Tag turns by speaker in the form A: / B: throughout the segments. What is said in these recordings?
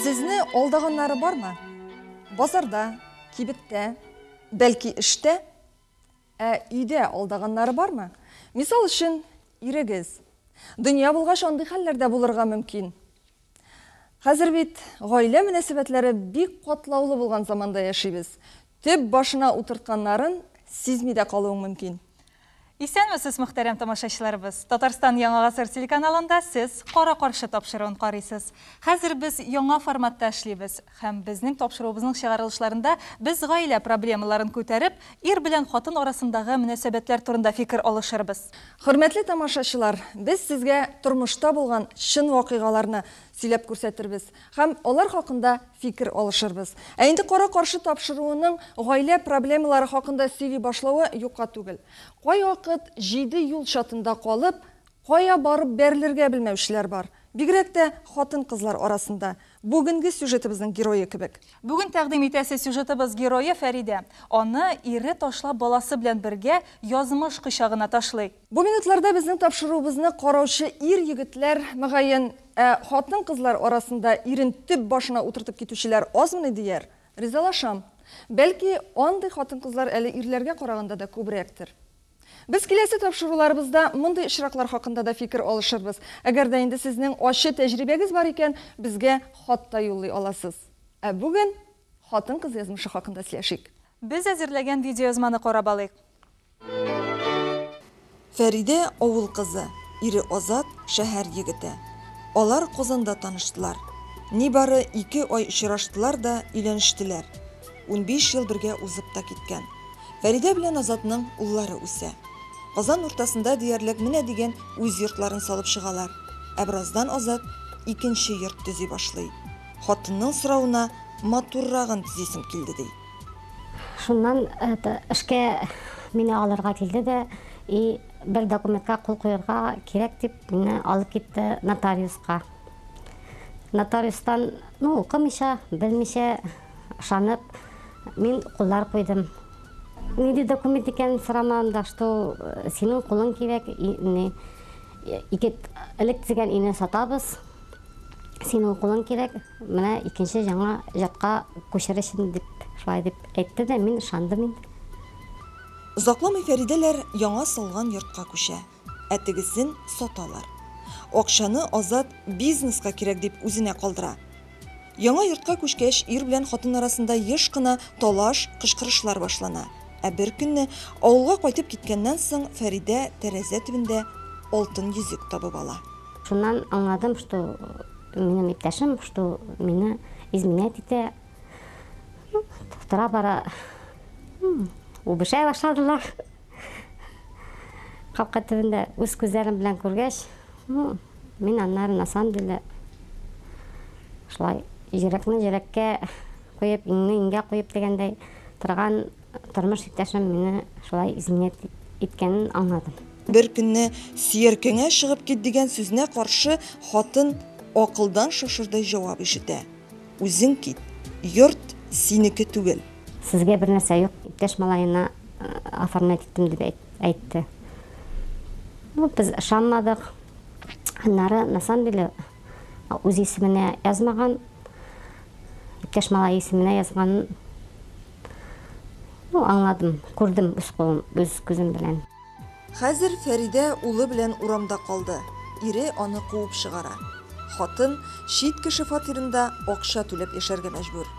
A: Сезне алдаганнары бармы? Базарда, кибеттә, бәлки эштә? Ә өйдә алдаганнары бармы? Мисал өчен, ирегез. Дөнья булгач, андый хәлләр дә булырга мөмкин. Хәзер бит гаилә мөнәсәбәтләре бик катлаулы булган заманда яшибез. Төп башына утыртканнарын сизми дә калуың мөмкин. Исәнмесез,
B: мөхтәрәм тамашачыларыбыз! Татарстан Яңа гасыр телеканалында сез Кара-каршы тапшыруын карыйсыз. Хәзер без яңа форматта эшлибез. Һәм безнең тапшыруыбызның чыгарылышларында без гаилә проблемаларын күтәреп, ир белән хатын арасындагы мөнәсәбәтләр турында фикер алышырбыз. Хөрмәтле
A: тамашачылар, без сезгә тормышта булган чын вакыйгаларны сөйләп күрсәтербез һәм алар хакында фикер алышырбыз. Ә инде кара-каршы тапшыруының гаилә проблемалары хакында сөйли башлавы юкка түгел. Кайвакыт җиде юл чатында калып, Кая барып бәрелергә белмәүчеләр бар, бигрәк тә хатын-кызлар арасында, бүгенге сюжетыбызның герое кебек. Бүген тәкъдим итәсе
B: сюжетыбыз герое Фәридә. Аны ире ташлап баласы белән бергә язмыш кочагына ташлый. Бу минутларда безнең
A: тапшыруыбызны караучы ир-егетләр, мөгаен, ә хатын-кызлар арасында ирен төп башына утыртып китүчеләр азмыни дияр? Ризалашам. Бәлки, андый хатын-кызлар әле ирләргә караганда да күбрәктер. Без киләсе тапшыруларыбызда мондый очраклар хакында да фикер алышырбыз. Әгәр дә инде сезнең ачы тәҗрибәгез бар икән, безгә хат та юллый аласыз. Ә бүген хатын-кыз язмышы хакында сөйләшик. Без әзерләгән
B: видеоязманы карап алыйк.
A: Фәридә, авыл кызы, ире Азат, шәһәр егете. Алар Казанда таныштылар. Нибары ике ай очраштылар да өйләнештеләр. Унбиш ел бергә узып та киткән. Фәридә белән Азатның уллары үсә. Казан уртасында диярлек менә дигән үз йортларын салып чыгалар. Ә бераздан Азат икенче йорт төзи башлый. Хатынның соравына матуррагын төзисем килде, ди. Шуннан
C: эшкә мине алырга килде дә и бер документка кул куярга кирәк дип, мине алып китте нотариуска. Нотариустан, ну, укымыйча, белмичә, Ышанып, мин куллар куйдым. Нинди документ икәнен сорамадым да, что э, синең кулың кирәк, ике элек дигән өйне сатабыз, синең кулың кирәк, менә икенче яңа җатка күчересен дип, шулай дип әйтте дә, мин ышандым инде.
A: Озакламый Фәридәләр яңа салган йортка күчә. ә тегесен саталар. Акчаны Азат бизнеска кирәк дип үзенә калдыра. Яңа йортка күчкәч, ир белән хатын арасында еш кына талаш, кычкырышлар башлана. Ә бер көнне, авылга кайтып киткәннән соң, Фәридә тәрәзә төбендә алтын йөзек табып ала. Шуннан аңладым,
C: что минем иптәшем, что мине изменять итә. Ну, тора-бара үбешә башладылар. Капка төбендә үз күзләрем белән күргәч, ну, мин аннары на самом деле шулай йөрәкне йөрәккә куеп, иңне иңгә куеп дигәндәй торган тормыш иптәшем мине шулай изминет иткәнен аңладым. Бер көнне
A: сөяркәңә чыгып кит дигән сүзенә каршы хатын акылдан шашырдай җавап ишетә. Үзең кит, йорт синеке түгел. Сезгә бер нәрсә
C: юк, иптәш малаена оформлять иттем дип әйтте. Ну, без ышанмадык. Аннары, на самом деле, үз исеменә язмаган, иптәш малай исеменә язганын ну, аңладым, күрдем үз кулым, үз күзем белән. Хәзер
A: Фәридә улы белән урамда калды, ире аны куып чыгара. Хатын чит кеше фатирында акча түләп яшәргә мәҗбүр.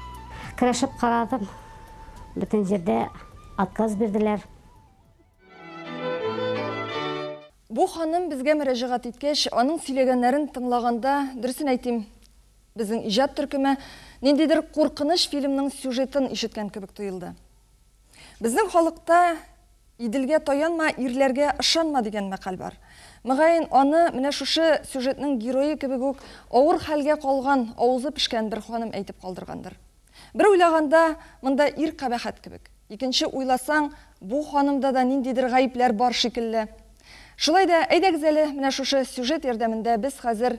A: Керешеп
C: карадым, бөтен җирдә отказ бирделәр.
A: Бу ханым безгә мөрәҗәгать иткәч, аның сөйләгәннәрен тыңлаганда, дөресен әйтим, безнең иҗат төркеме ниндидер куркыныч фильмның сюжетын ишеткән кебек тоелды. Безнең халыкта Иделгә таянма, ирләргә ышанма дигән мәкаль бар. Мөгаен, аны менә шушы сюжетның герое кебек үк авыр хәлгә калган, авызы пешкән бер ханым әйтеп калдыргандыр. Бер уйлаганда, монда ир кабәхәт кебек. Икенче уйласаң, бу ханымда да ниндидер гаепләр бар шикелле. Шулай да, әйдәгез әле, менә шушы сюжет ярдәмендә без хәзер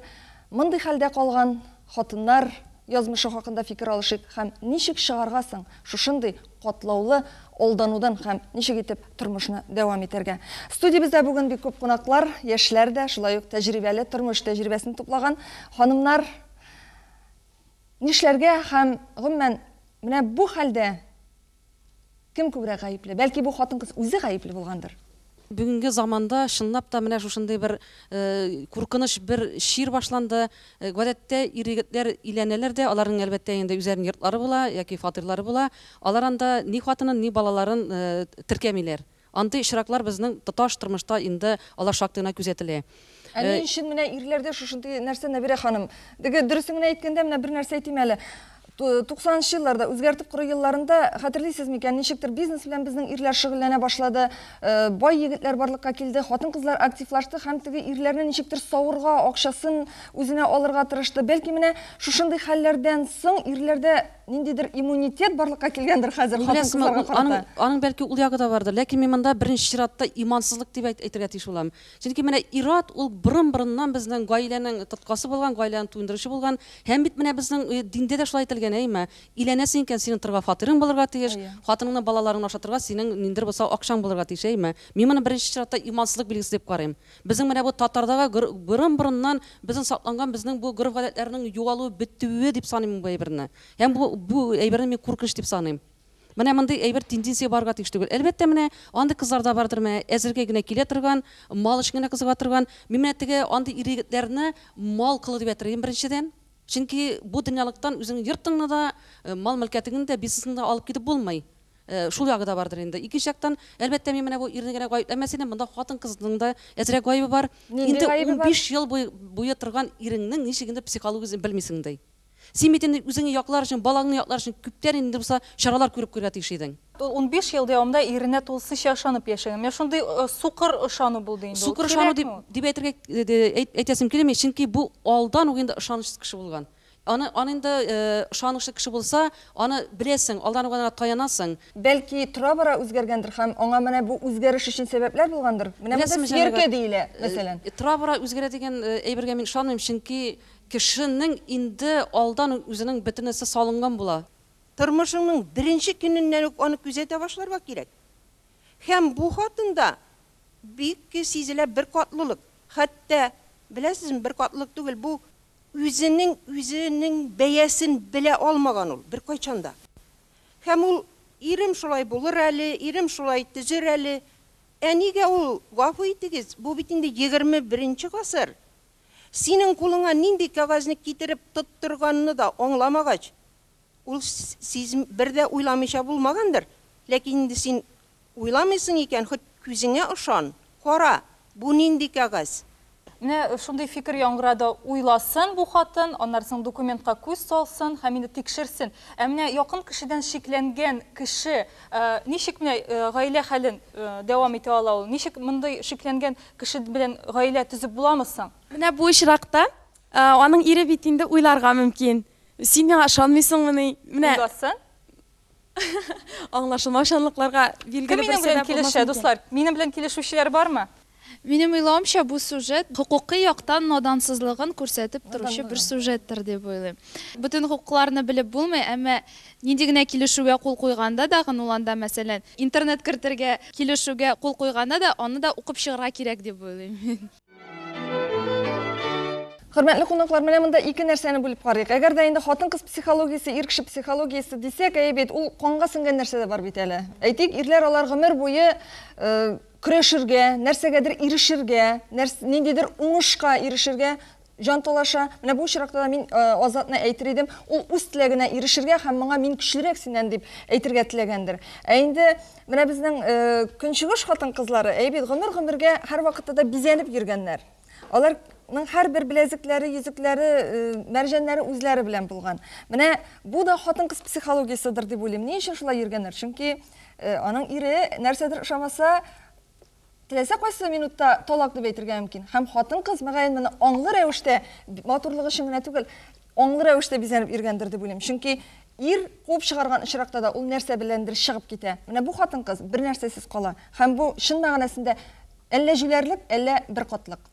A: мондый хәлдә калган, Хатыннар язмышы хакында фикер алышыйк һәм ничек чыгарга соң шушындый катлаулы алданудан һәм ничек итеп тормышны дәвам итәргә? Студиябездә бүген бик күп кунаклар, яшьләр дә, шулай ук тәҗрибәле, тормыш тәҗрибәсен туплаган ханымнар. Нишләргә һәм, гомумән, менә бу хәлдә Кем күбрәк гаепле? Бәлки бу хатын-кыз үзе гаепле булгандыр? Бүгенге
D: заманда чынлап та менә шушындый бер куркыныч бер чир башланды. Гадәттә ир-егетләр өйләнәләр дә, аларның әлбәттә инде үзләренең йортлары була яки фатирлары була. Алар анда ни хатынын, ни балаларын теркәмиләр. Андый очраклар безнең тоташ тормышта инде алар шактый гына күзәтелә. Ә ни өчен
A: менә ирләрдә шушындый нәрсә, Нәбирә ханым? Теге, дөресен генә әйткәндә, менә бер нәрсә әйтим әле. Туксанынчы елларда, үзгәртеп кору елларында, хәтерлисез микән, ничектер бизнес белән безнең ирләр шөгыльләнә башлады, бай егетләр барлыкка килде, хатын-кызлар активлашты һәм теге ирләрне ничектер савырга, акчасын үзенә алырга тырышты. Бәлки менә шушындый хәлләрдән соң ирләрдә. ниндидер иммунитет барлыкка килгәндер хәзер хатын-кызларга карата. Аның, аның бәлки ул ягы да
D: бардыр, ләкин мин монда беренче чиратта имансызлык дип әйтергә тиеш булам. Чөнки менә ират ул борын-борыннан безнең гаиләнең тоткасы булган, гаиләне туендыручы булган. Һәм бит менә безнең э, диндә дә шулай әйтелгән, әйме? Иләнәсең икән, синең торга фатирың булырга тиеш, хатыныңны, балаларыңны ашатырга синең ниндер булса акчаң булырга тиеш, әйме? Мин моны беренче чиратта имансызлык билгесе дип карыйм. Безнең менә бу татардагы гор борын-борыннан безнең сакланган безнең бу гореф-гадәтләрнең югалуы, бетүе дип саныйм мин бу әйберне. Һәм бу бу әйберне мин куркыныч дип саныйм. Менә мондый әйбер тенденция барырга тиеш түгел. Әлбәттә, менә андый кызлар да бардыр, менә әзерге генә килә торган, мал өчен генә кызыга торган. Мин менә теге андый ир-егетләрне мал кылу дип әйтер идем, беренчедән. Чөнки бу дөньялыктан үзеңнең йортыңны да, мал-мөлкәтеңне дә, бизнесыңны да алып китеп булмый. Шул ягы да бардыр инде. Икенче яктан, әлбәттә, мин менә бу ирне генә гаепләмәс идем, монда хатын-кызның да әзрәк гаебе бар. Инде унбиш ел буе торган иреңнең ничек инде психологиясен белмисең ди. Син бит инде үзеңне яклар өчен, балаңны яклар өчен күптән инде булса чаралар күреп куярга тиеш идең. Ул унбиш ел дәвамында
B: иренә тулысынча ышанып яшәгән. Менә шундый сукыр ышану булды инде ул. Сукыр ышану дип
D: әйтергә әйтәсем килми, чөнки бу алдан ук инде ышанычсыз кеше булган. Аны, аны инде ышанычлы кеше булса, аны беләсең, алдан ук аңа таянасың. Бәлки, тора-бара
A: үзгәргәндер һәм аңа менә бу үзгәреш өчен сәбәпләр булгандыр? Менә монда Беләсеңме, Җәмигә, сверка диелә, мәсәлән. э, тора-бара үзгәрә дигән
D: әйбергә мин ышанмыйм, чөнки кешенең инде алдан ук үзенең бөтенесе салынган була. Тормышыңның
E: беренче көненнән үк аны күзәтә башларга кирәк. Һәм бу хатында бик сизелә беркатлылык. Хәтта, беләсезме, беркатлылык түгел, бу. Үзенең үзенең бәясен белә алмаган ул беркайчан да. Һәм ул, Ирем шулай булыр әле, ирем шулай төзер әле. Ә нигә ул, гафу итегез, бу бит инде егерме беренче гасыр, синең кулыңа нинди кәгазьне китереп тоттырганны да аңламагач, Ул сиз бер дә уйламыйча булмагандыр, ләкин инде син уйламыйсың икән, хоть күзеңә ышан, кара, бу нинди кәгазь. Менә шундый
B: фикер яңгырады, уйласын бу хатын, аннары соң документка күз салсын һәм инде тикшерсен. Ә менә якын кешедән шикләнгән кеше ничек менә гаилә хәлен дәвам итә ала ул? Ничек мондый шикләнгән кеше белән гаилә төзеп буламы соң? Менә бу очракта
F: аның ире бит инде уйларга мөмкин. Син миңа ышанмыйсыңмыни? Менә. Узасың. Аңлашылмаучанлыкларга билгеле бер сәбәп булмас микән? Кем минем белән килешә, дуслар? Минем
B: белән килешүчеләр бармы? Минем уйлавымча,
G: бу сюжет хокукый яктан надансызлыгын күрсәтеп торучы бер сюжеттер дип уйлыйм. Бөтен хокукларны белеп булмый, әмма нинди генә килешүгә кул куйганда да, ул анда, мәсәлән, интернет кертергә килешүгә кул куйганда да, аны да укып чыгарга кирәк дип уйлыйм мин.
A: Хөрмәтле кунаклар, менә монда ике нәрсәне бүлеп карыйк. Әгәр дә инде хатын-кыз психологиясе, ир кеше психологиясе дисәк, әйе бит, ул канга сеңгән нәрсә дә бар бит әле. Әйтик, ирләр алар гомер буе э, көрәшергә, нәрсәгәдер ирешергә, нәрс, ниндидер уңышка ирешергә Җанталаша. Менә бу очракта да мин Азатны әйтер идем, ул үз теләгенә ирешергә һәм моңа мин көчлерәк синнән дип әйтергә теләгәндер. Ә инде менә безнең Көнчыгыш хатын-кызлары, әйе бит, гомер-гомергә һәрвакытта да бизәнеп йөргәннәр. Алар ның һәрбер беләзекләре, йөзекләре, мәрҗәннәре үзләре белән булган. Менә бу да хатын-кыз психологияседер дип уйлыйм. Ни өчен шулай йөргәннәр? Чөнки аның ире нәрсәдер ошамаса, Теләсә кайсы минутта талак дип әйтергә мөмкин. Һәм хатын-кыз, мөгаен, моны аңлы рәвештә, матурлык өчен генә түгел, аңлы рәвештә бизәнеп йөргәндер дип уйлыйм. Чөнки ир куып чыгарган очракта да ул нәрсә беләндер чыгып китә. Менә бу хатын-кыз бернәрсәсез кала. Һәм бу, чын мәгънәсендә, әллә җүләрлек, әллә беркатлык.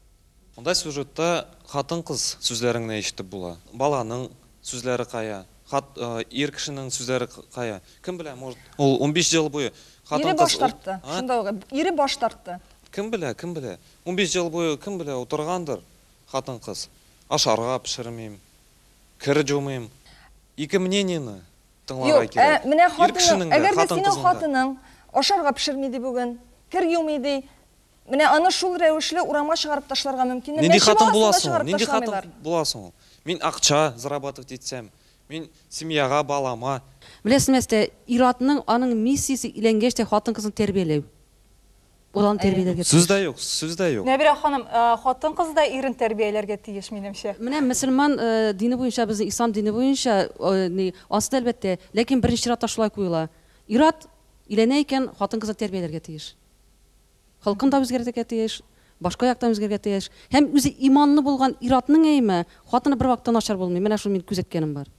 A: Монда сюжетта
H: хатын-кыз сүзләрен генә ишетеп була. Баланың сүзләре кая? Хат ир кешенең сүзләре кая? Кем белә, может, ул унбиш җыл буе хатын-кыз Ире баш тартты,
A: шунда ук ире баш тартты. Кем белә, кем
H: белә. Унбиш ел буе кем белә утыргандыр хатын-кыз. Ашарга пешермим, кер җумыйм. Ике мнениене тыңларга кирәк. Юк, менә
A: хатының,
H: әгәр
A: дә
H: синең хатының ашарга
A: пешерми ди бүген, кер юмый ди, Менә аны шул рәвешле урамга чыгарып ташларга мөмкин. Нинди хатын була соң
H: ул? Нинди
A: хатын була
H: соң ул? Мин акча зарабатывать итсәм, мин семьяга, балама. Беләсеңме, Әстә,
D: ир-атның аның миссиясе өйләнгәч тә хатын-кызны тәрбияләү. Баланы тәрбияләргә тиеш. Сүз дә юк, сүз дә
H: юк. Нәбирә ханым,
B: хатын-кыз да ирен тәрбияләргә тиеш, минемчә. Менә мөселман
D: дине буенча, безнең ислам дине буенча, ни, ансы да әлбәттә, ләкин беренче чиратта шулай куела. Ир-ат өйләнә икән, хатын-кызны тәрбияләргә тиеш. Холкын да үзгәртергә тиеш, башка яктан үзгәрергә тиеш. Һәм үзе иманлы булган ир-атның әйеме, хатыны бервакытта начар булмый. Менә шуны мин күзәткәнем бар.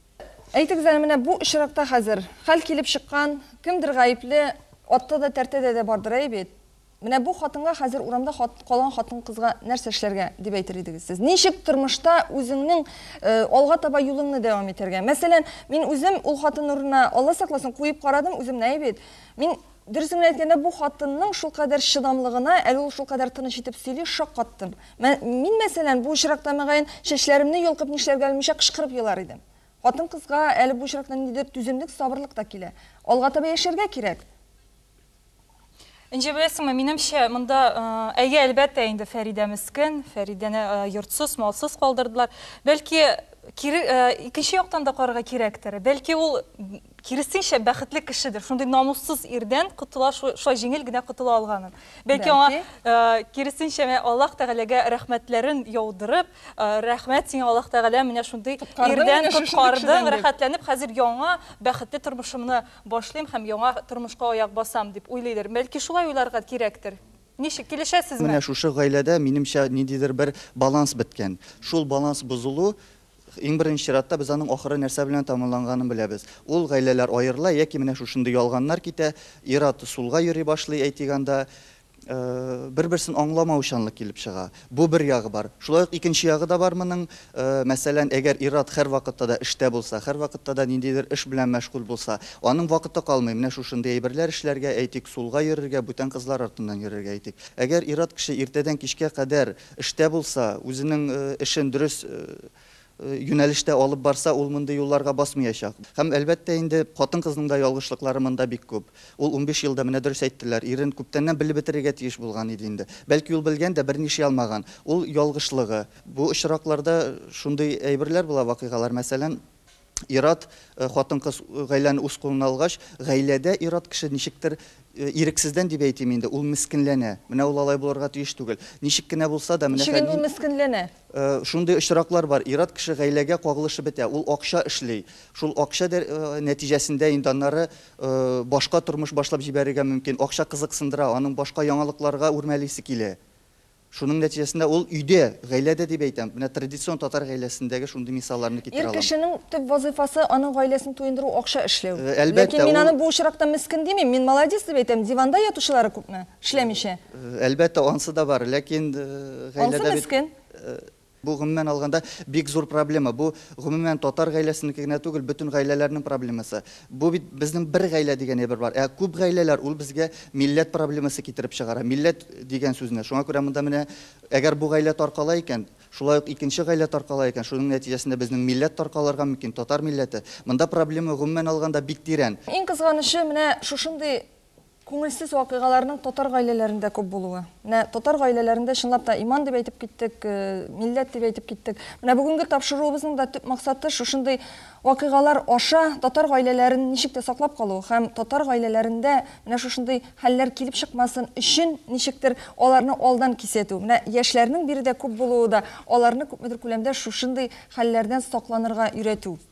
D: Әйтегез әле, менә
A: бу очракта хәзер хәл килеп чыккан, кемдер гаепле, атта да, тәртәдә дә бардыр, әй бит? Менә бу хатынга хәзер урамда хат, калган хатын-кызга нәрсә эшләргә, дип әйтер идегез сез? Ничек тормышта үзеңнең э, алга таба юлыңны дәвам итәргә? Мәсәлән, мин үзем ул хатын урынына, Алла сакласын, куеп карадым үземне, әй бит? Мин Дөресен генә әйткәндә, бу хатынның шулкадәр чыдамлыгына, әле ул шулкадәр тыныч итеп сөйли, шаккаттым. Мин, мәсәлән, бу очракта, мөгаен, чәчләремне йолкып нишләргә белмичә кычкырып елар идем. Хатын-кызга әле бу очракта ниндидер түземлек, сабырлык та килә. Алга таба яшәргә кирәк.
B: Энҗе, беләсеңме, минемчә, монда, әйе, әлбәттә, инде Фәридә мескен, Фәридәне йортсыз, малсыз калдырдылар. Бәлки, кире, икенче яктан да карарга кирәктер. Бәлки, ул киресенчә бәхетле кешедер. Шундый намуссыз ирдән котыла, шулай җиңел генә котыла алганын. Бәлки аңа э, киресенчә менә Аллаһ Тәгаләгә рәхмәтләрен яудырып, э, рәхмәт сиңа Аллаһ Тәгалә менә шундый ирдән коткардың, рәхәтләнеп хәзер яңа бәхетле тормышымны башлыйм һәм яңа тормышка аяк басам дип уйлыйдыр. Бәлки шулай уйларга кирәктер. Ничек килешәсезме? Менә шушы гаиләдә
I: минемчә ниндидер бер баланс беткән. Шул баланс бозылу Иң беренче чиратта без аның ахыры нәрсә белән тәмамланганын беләбез. Ул гаиләләр аерыла яки менә шушындый ялганнар китә, ир-ат сулга йөри башлый, әйтик анда, бер-берсен аңламаучанлык килеп чыга. Бу бер ягы бар. Шулай ук икенче ягы да бар моның, мәсәлән, әгәр ир-ат һәрвакытта да эштә булса, һәрвакытта да ниндидер эш белән мәшгуль булса, аның вакыты калмый менә шушындый әйберләр эшләргә, әйтик, сулга йөрергә, бүтән кызлар артыннан йөрергә, әйтик. Әгәр ир-ат кеше иртәдән кичкә кадәр, Эштә булса, үзенең эшен дөрес юнәлештә алып барса, ул мондый юлларга басмыячак. Һәм, әлбәттә инде, хатын-кызның да ялгышлыклары монда бик күп. Ул унбиш елда, менә дөрес әйттеләр, ирен күптәннән белеп бетерергә тиеш булган иде инде. Бәлки ул белгән дә, берни эшли алмаган. Ул, ялгышлыгы. Бу очракларда шундый әйберләр була, вакыйгалар, мәсәлән. Ир-ат, хатын-кыз гаиләне үз кулына алгач, гаиләдә ир-ат кеше ничектер, ирексездән дип әйтим инде, ул мескенләнә. Менә ул алай булырга тиеш түгел. Ничек кенә булса да, менә Ничек инде ул мескенләнә?
A: Шундый
I: очраклар бар, ир-ат кеше гаиләгә кагылышып бетә, ул акча эшли. Шул акча нәтиҗәсендә инде аннары башка тормыш башлап җибәрергә мөмкин. Акча кызыксындыра, аның башка яңалыкларга үрмәлисе килә. Шуның нәтиҗәсендә ул өйдә, гаиләдә дип әйтәм, менә традицион татар гаиләсендәге шундый мисалларны китерә Ир алам. кешенең төп
A: вазыйфасы, аның гаиләсен туендыру, акча эшләү. Әлбәттә, Ләкин мин ул- аны бу
I: очракта
A: мескен димим, мин молодец дип әйтәм, диванда ятучылары күпме, эшләмичә? Әлбәттә, ансы
I: да бар, ләкин, гаиләдә бит- Ансы мескен.
A: Бу, гомумән
I: алганда, бик зур проблема. Бу, гомумән, татар гаиләсенеке генә түгел, бөтен гаиләләрнең проблемасы. Бу бит безнең бер гаилә дигән әйбер бар. Ә күп гаиләләр, ул безгә милләт проблемасы китереп чыгара. Милләт дигән сүзне. Шуңа күрә монда менә, әгәр бу гаилә таркала икән, шулай ук икенче гаилә таркала икән, шуның нәтиҗәсендә безнең милләт таркалырга мөмкин, татар милләте. Монда проблема, гомумән алганда, бик тирән. Иң кызганычы, менә
A: шушындый Күңелсез вакыйгаларның татар гаиләләрендә күп булуы. Менә татар гаиләләрендә чынлап та иман дип әйтеп киттек, милләт дип әйтеп киттек. Менә бүгенге тапшыруыбызның да төп максаты шушындый вакыйгалар аша татар гаиләләрен ничек тә саклап калу һәм татар гаиләләрендә менә шушындый хәлләр килеп чыкмасын өчен ничектер аларны алдан кисәтү. Менә яшьләрнең биредә күп булуы да аларны күпмедер күләмдә шушындый хәлләрдән сакланырга өйрәтү.